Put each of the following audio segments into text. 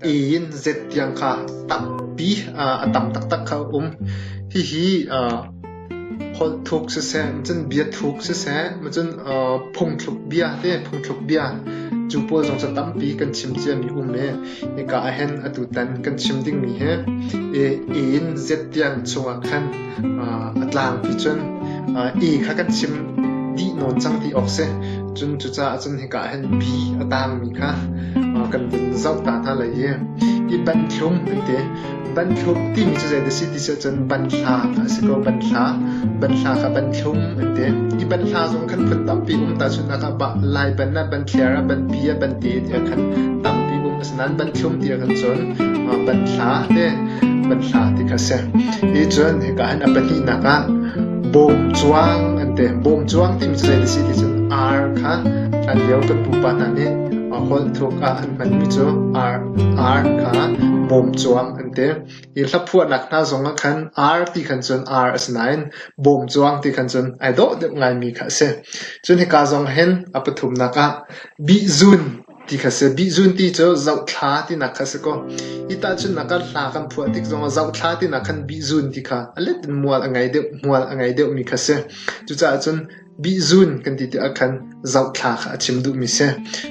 Iin zet tiang kha tampi a tam taktak kha a um. Hihi holh thuk siseh, cun bia thuk siseh, cun phungthluk bia te, phungthluk bia cu pawl zong cu tampi kan chim ciami um i hika ahhin atu tan kan chim dingmi hi iin zet tiang chungah khan a tlangpi cun i kha kan chim dih nawn cang ti awk si. Cun cucaah cun hika ah hin bi a taangmi kha kan vun zoh ta hna lai i i banthlum tete banthlum timi cu zeidah si ti cu cun banhla a si ko banhla banhla kha banthlum an ti i banhla zong khan phun tampi um ta cu hna kha bah lai ban ah banthliar ah banpi ah bante ti khan tampi um a Nan banthlum ti ah kan cawn. Banthla te, banthla ti kha a si. Hi cun hika hin a pahnihnak ah bawmcuang an ti. Bawmcuang ti cu zei si ti cun R kha hlan lio kan pupa hna nih holh thuk ah an hmanmi cu R, R kha bawmcuang an ti. Hi hlaphuahnak hna zong ah khan R ti khan cun R a si nain bawmcuang ti khan cun ai dawh deuh ngaimi kha a si. Cun hika zong hin a pathumnak ah bihzun Ti kha a si. Bihzun ti cu zohthla tinak kha a si ko. Hi tahchunhnak ah hla kan phuah tik zongah zohthla tinak khan bihzun ti kha a let in mual a ngei deuh, mual a ngei deuhmi kha a si. Cucaah cun bihzun kan ti tikah khan zohthla kha a chim duhmi a si.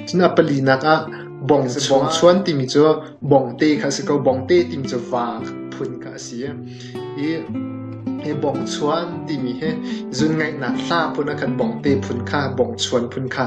Cun a palinak ah bongchuan timi cu bongte kha a si ko. Bongte timi cu va phun kha a si. I he bongchuan timi he zun ngaihnak hla phun ah khan bongte phun kha bongchuan phun kha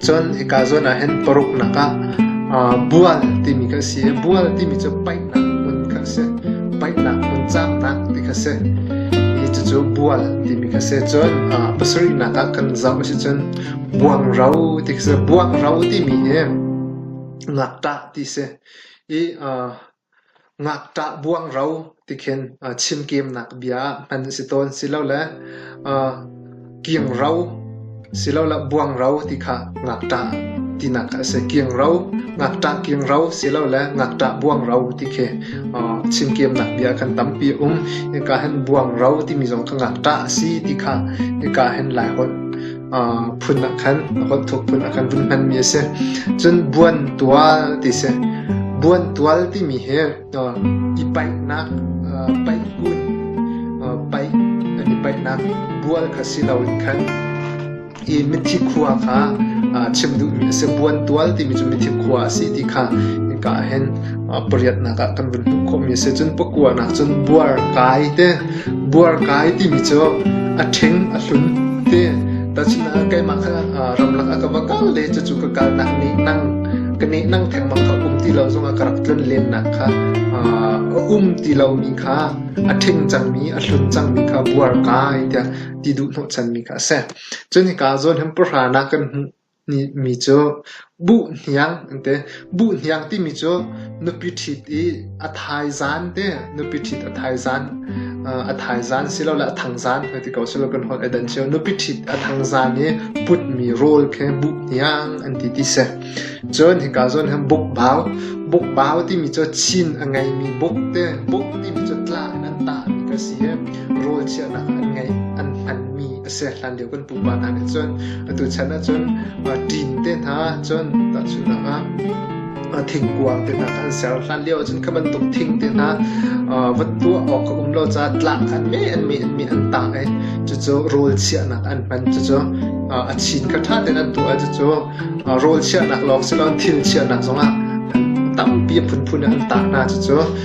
Cun hika zawn ah hin paruknak ah bual timi kan si i bual timi cu paihnak hmun kha a si. Paihnak hmun cangnak ti kha a si. Hi cucu bual timi kha a si. Cun pasarihnak ah kan zoh a si cun buangro ti kha a si. Buangro timi hi ngakṭah ti a si i Ngakṭah buang ro ti khin chimkeemnak bia ah hman a si tawn silole kingro silole buangro ti kha ngakṭah tinak a si. Kingro, ngakṭah kingro silole ngakṭah buangro ti khi chimkeemnak bia kan tampi a um. Hika hin buangro timi zong cu ngakṭah a si ti kha hika hin Laiholh phun ah khan a kawtthuk phun ah khan vun hmanmi a si. Cun buantual ti si. Buantual timi hi i paihnak, paihkun, paih an i paihnak bual kha si lo in khan i mithi khua kha chim duhmi a si. Buantual timi cu mithi khua a si ti kha inka ah hin pariatnak ah kan vun hmuh khawhmi a si. Cun pakuanak cun buar kai te, buar kai timi cu a ṭheng, a hlun te. Tacunah keimah kha ramlak ah ka va kal le cucu ka kalnak nih nang ka nih nang thengmang kha um ti lo zongah ka rak tlun lennak kha a um ti lomi kha a ṭheng cangmi a hlun cangmi kha buar kai tiah ti duh hnawhchanmi kha a si. Cun hika zawn hem pahranak kan hmuh Mi cu buhniang timi cu nupi ṭhit i a thaizan te nupi ṭhit a thaizan silole a thangzan hoi ti ko silo kan holh ai dan cio nupi ṭhit a thangzan i putmi rawl khe buhniang an ti ti si cun hika zawn hin bukbau bukbau timi cu chin a ngeimi buk te buk timi cu tla in an tahmi ka si i rawl chiahnak an ngeih an hmanmi a hlan lio kan pupa hna nih cun atu chan ah cun ṭin te hna cun tahchunhnak ah thingkuang te hna an ser hlan lio cun kha bantuk thing te hna va tuah awk a um lo ca tlak an me an me an me an tah e cucu rawl chiahnak an hman cucu a chin kha ṭha ten an tuah cucu rawl chiahnak lawng si lo thil chiahnak zongah tampi phunphun an tah hna cucu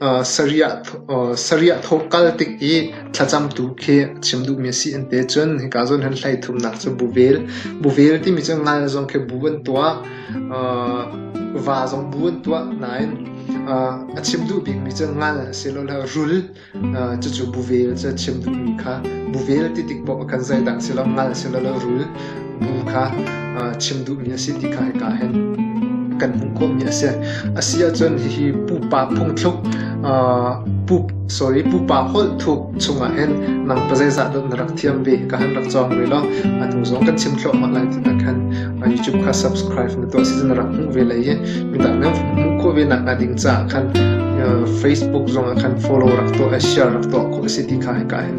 Sarih thawk kal tik i thlacamtu khi a chim duhmi a si an ti ahcun hika zawn hin hleithumnak cu bu vel. Bu vel timi cu ngal zong khi bu an tuah, va zong bu an tuah nain a chim duh bikmi cu ngal asilole rul cucu bu vel cu a chim duhmi kha. Bu vel ti tik paoh ah khan zeidah a si lo, ngal asilole rul. nu kha chim duhmi a si ti kha hika hin kan hmuh khawhmi a si. A si ahcun hihi pupa phungthluk pup sorry pupa holh thuk chungah hin nang pa zeizah dot na rak thiam ve ka han rak cawng ve lo anu zong kan chim thlo ma lai tina khan youtube kha subscribe na to si zan rak hmuh ve lai hi midang nan hmuh kho ve nak na ding ca khan facebook zong khan follow rak to share rak to kho si ti kha hika hin